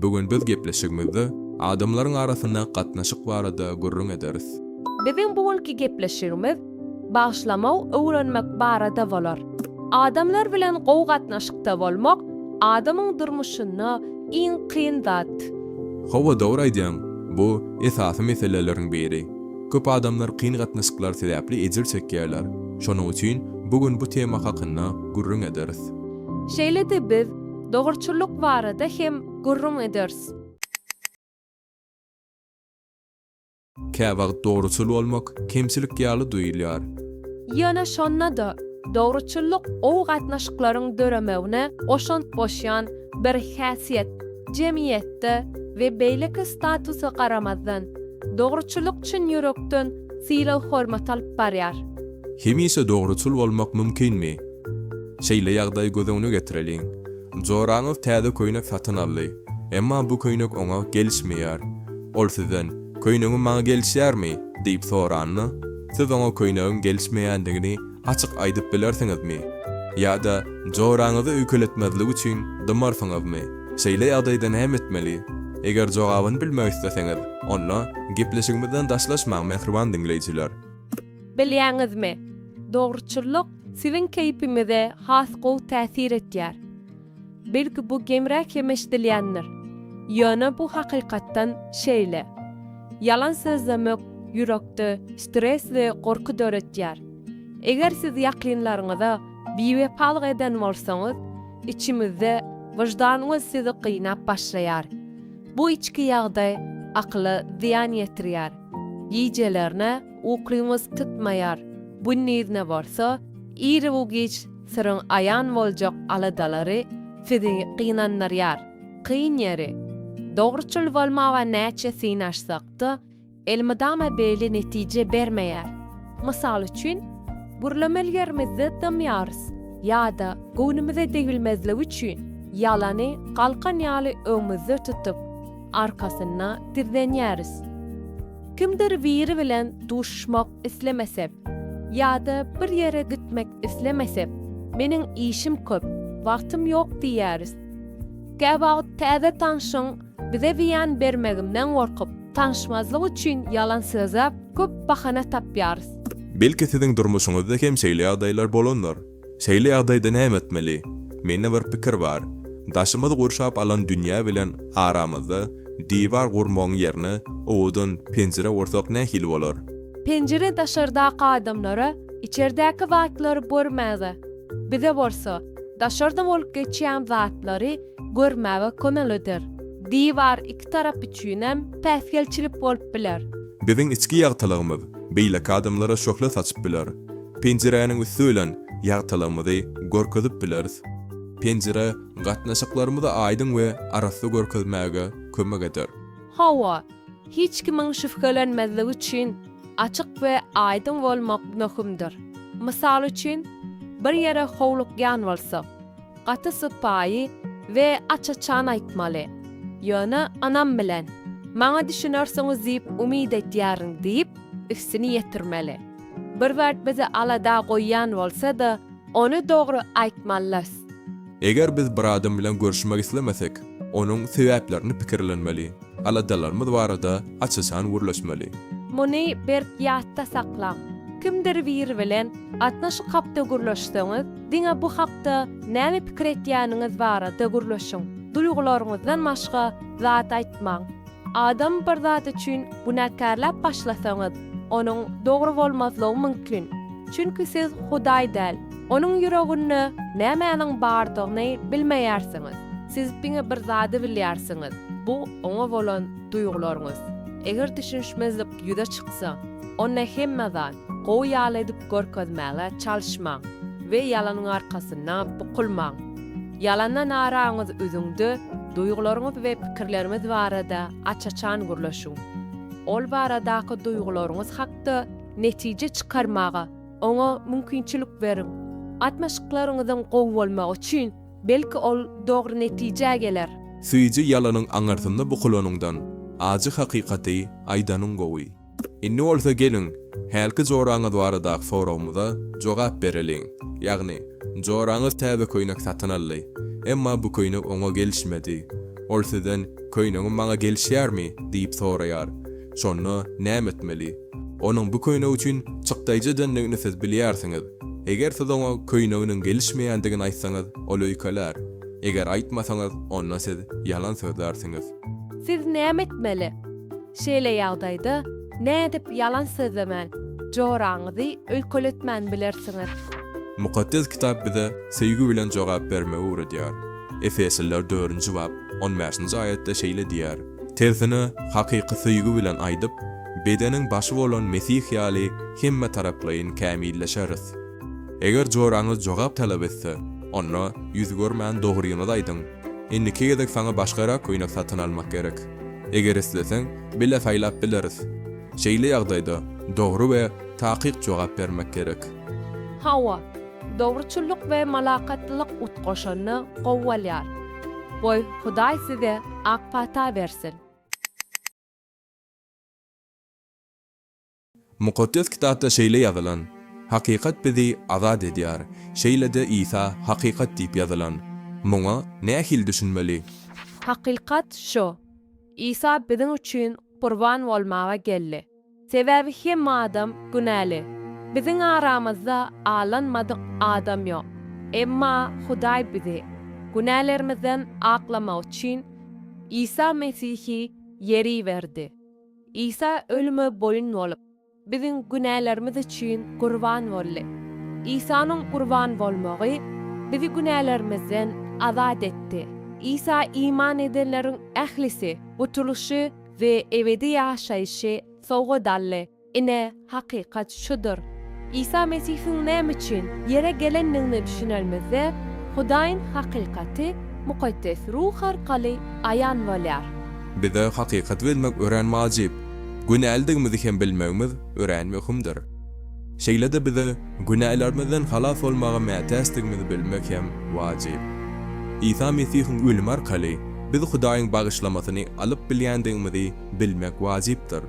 Bu gün biz gepleşigimizde adamlaryň arasyndaky gatnaşyk barada gürrüň ederis. Biziň bu günki gepleşigimiz bagyşlamak öwrenmek barada bolar. Adamlar bilen gowy gatnaşykda bolmak adamyň durmuşynda iň kyn zat. Hawa dogry aýdýaň, bu esasy meseleleriň biri. Köp adamlar kyn gatnaşyklar sebäpli ejir çekýärler. Şonuň üçin bu gün bu tema hakynda gürrüň ederis. Şeýle-de biz. Dogruçyllyk barada hem gürrüň ederis. Käwagt dogruçyl bolmak kemçilik ýaly duýulýar. Ýöne şonda-da, dogruçyllyk ow gatnaşyklaryň döremegine goşant goşýan bir häsiýet. Jemgyýetde we beýleki statusa garamazdan, dogruçyllyk çyn ýürekden sylag-hormat alyp barýar. Hemişe dogruçyl bolmak mümkinmi? Şeýle ýagdaýy göz öňüne getireliň. Joraňyz täze köýnek satyn aldy. Emma bu köýnek oňa gelişmeýär. Ol sizden, Köýnegiň maňa gelişýärmi? diýip soranda, siz oňa köýnegiň gelişmeýändigini açyk aýdyp bilersiňizmi? Ýa-da joraňyzy öýkeletmezlik üçin dymarsyňyzmy? Şeýle ýagdaýda näme etmeli? Eger jogabyny bilmek isleseňiz, onda gepleşigimizden daşlaşmaň mähriban diňleýjiler. Bilýäňizmi, dogruçyllyk siziň keýpiňize has gowy täsir etýär. Belki bu gemräk hem eşidilýändir, ýöne bu hakykatdan şeýle. Ýalan sözlemek ýürekde stres we gorky döretýär. Eger siz ýakynlaryňyza biwepalyk eden bolsaňyz, içiňizde wyždanyňyz sizi gynap başlaýar. Bu içki ýagdaý akyla zyýan ýetirýär. Gijelerine, Ukyňyz tutmaýar. Gündiziňe bolsa, irw-giç syryň aýan boljak aladalary sizi gynandyrýar. Kyn ýeri, dogruçyl bolmaga näçe synaşsak-da, elmydama beýle netije bermeýär. Mysal üçin, gürlemeli ýerimizde dymýarys ýa-da göwnümize degilmezligi üçin, ýalany galkan ýaly öňümizde tutup, arkasynda gizlenýäris. Kimdir biri bilen duşuşmak islemesek ýa-da bir ýere gitmek islemesek, meniň işim köp, wagtym ýok diýýäris. Käwagt täze tanşyň bize zyýan bermeginden gorkup, tanyşmazlyk üçin ýalan sözläp, köp bahana tapýarys. Belki siziň durmuşyňyzda hem şeýle ýagdaýlar bolandyr. Şeýle ýagdaýda näme etmeli? Mende bir pikir bar. Daşymyz gurşap alan dünýä bilen aramyzda diwar gurmagyň ýerine owadan penjire gursak nähili bolar? Penjire daşardaky adamlara içerdäki zatlary görmäge, bize bolsa daşarda bolup geçýän zatlary görmäge kömek eder. Diwar iki tarap üçinem päsgelçilik bolup biler. Biziň içki ýagtylygymyz beýleki adamlara şöhle saçyp biler. Penjiräniň üsti bilen ýagtylygymyzy görkezip bileris. Penjire gatnaşyklarymyzy aýdyň we arassa görkezmäge kömek eder. Hawa, hiç kimiň şübhelenmezligi üçin açyk we aýdyň bolmak möhümdir. Mysal üçin, bir ýere howlukýan bolsak, gaty sypaýy we aç-açan aýtmaly. Ýöne ynam bilen, Maňa düşünersiňiz diýip umyt edýärin diýip, üstüni ýetirmeli. Bir zat bizi alada goýýan bolsa-da, ony dogry aýtmalys. Eger biz bir adam bilen görüşmek islemesek, onuň sebäplerini pikirlenmeli, aladalarymyz barada aç-açan gürleşmeli. Muny berk ýatda saklaň, kimdir biri bilen gatnaşyk hakda gürleşseňiz, diňe bu hakda näme pikir etýäniňiz barada gürleşiň, duýgularyňyzdan başga zat aýtmaň. Adam bir zat üçin günäkärläp başlasaňyz, onuň dogry bolmazlygy mümkin. Çünki siz Hudaý däl, onuň ýüreginde nämäniň bardygyny bilmeýärsiňiz. Siz diňe bir zady bilýärsiňiz, bu oňa bolan duýgularyňyz. Eger düşünişmezlik ýüze çyksa, onda hemme zat gowy ýaly edip görkezmäge çalyşmaň we ýalanyň arkasynda bukulmaň. Ýalana naraňyz üzüňde duýgularyňyz we pikirleriňiz barada aç-açan gürleşiň. Ol baradaky duýgularyňyz hakda netije çykarmaga oňa mümkinçilik beriň. Gatnaşyklaryňyzyň gowy bolmagy üçin, belki ol dogry netijä geler. Süýji ýalanyň aňyrsynda bukulanyňdan, ajy hakykaty aýdanyň gowy. Indi bolsa geliň, hälki joraňyz baradaky soragymyza jogap bereliň. Ýagny, joraňyz täze köýnek satyn aldy. Emma bu köýnek oňa gelişmedi. Ol sizden, Köýnegim maňa gelişýärmi? diýip soraýar. Şonda näme etmeli? Onuň bu köýnek üçin çykdaýjy edendigini siz bilýärsiňiz. Eger siz oňa köýneginiň gelişmeýändigini aýtsaňyz, ol öýkelär. Eger aýtmasaňyz, onda siz ýalan sözlärsiňiz. Siz näme etmeli? Şeýle ýagdaýda, nädip ýalan sözlemän, joraňyzy öýkeletmän bilersiňiz? Mukaddes Kitap bize söýgi bilen jogap bermegi öwredýär. Efesliler dördünji bap, on bäşinji aýatda şeýle diýýär, Tersine, hakyky söýgi bilen aýdyp, bedeniň başy bolan Mesih ýaly hemmetaraplaýyn kämilleşeris. Eger joraňyz jogap talap etse, onda ýüz görmän dogryňyzy aýdyň. Indiki gezek saňa başgarak köýnek satyn almak gerek. Eger isleseň, bile saýlap bileris. Şeýle ýagdaýda dogry we takyk jogap bermek gerek. Hawa, dogruçyllyk we malakatlylyk utgaşanda gowy bolýar. Goý, Hudaý size ak pata bersin! Mukaddes Kitapda şeýle ýazylan, Hakykat bizi azat edýär. Şeýle-de Isa hakykat diýip ýazylan. Muňa nähili düşünmeli? Hakykat şu, Isa biziň üçin gurban bolmaga geldi. Sebäbi hemme adam günäli. Biziň aramyzda alanmadyk adam ýok. Emma Hudaý bizi günälerimizden aklamak üçin Isa Mesihi Ýer iberdi. Isa ölüme boýun bolup, biziň günälerimiz üçin gurban boldy. Isanyň gurban bolmagy bizi günälerimizden azat etdi. Isa iman edenleriň ählisi gutulyşy we ebedi ýaşaýşy sowgat aldy. Ine, Hakykat şudur, Isa Mesihiň näme üçin ýere gelendigine düşünenimizde, Hudaýyň hakykaty Mukaddes Ruh arkaly aýan bolýar. Bize hakykaty bilmek örän wajyp, günälidigimizi hem bilmegimiz örän möhümdir. Şeýle-de bize günälerimizden halas bolmaga mätäçdigimizi bilmek hem wajyp. Isa Mesihiň ölümi arkaly biz Hudaýyň bagyşlamasyny alyp bilýändigimizi bilmek wajypdyr.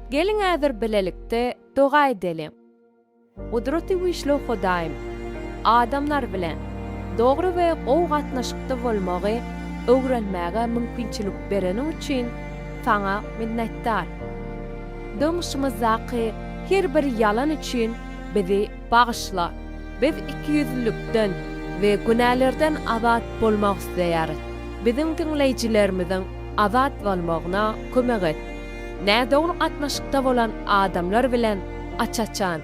Geliň häzir bilelikde doga edeliň. Gudraty güýçli Hudaýym, adamlar bilen dogry we gowy gatnaşykda bolmagy öwrenmäge mümkinçilik bereniň üçin Saňa minnetdar. Durmuşymyzdaky her bir ýalan üçin bizi bagyşla. Biz ikiýüzlülikden we günälerden azat bolmak isleýäris. Biziň diňleýjilerimiziň azat bolmagyna kömek et. nädogry gatnaşykda bolan adamlar bilen aç-açan,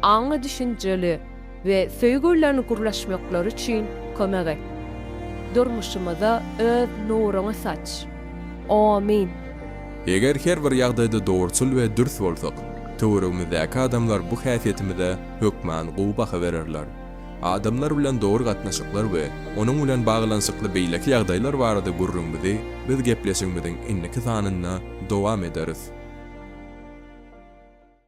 aňly-düşünjeli we söýgi bilen gürleşmekleri üçin kömek et. Durmuşymyza Öz nuruňy saç. Omyn. Eger her bir ýagdaýda dogruçyl we dürs bolsak, töweregimizdäki adamlar bu häsiýetimize hökman gowy baha bererler. Adamlar bilen dogry gatnaşyklar we onuň bilen baglanyşykly beýleki ýagdaýlar barada gürrüňimizi biz gepleşigimiziň indiki sanynda dowam ederis.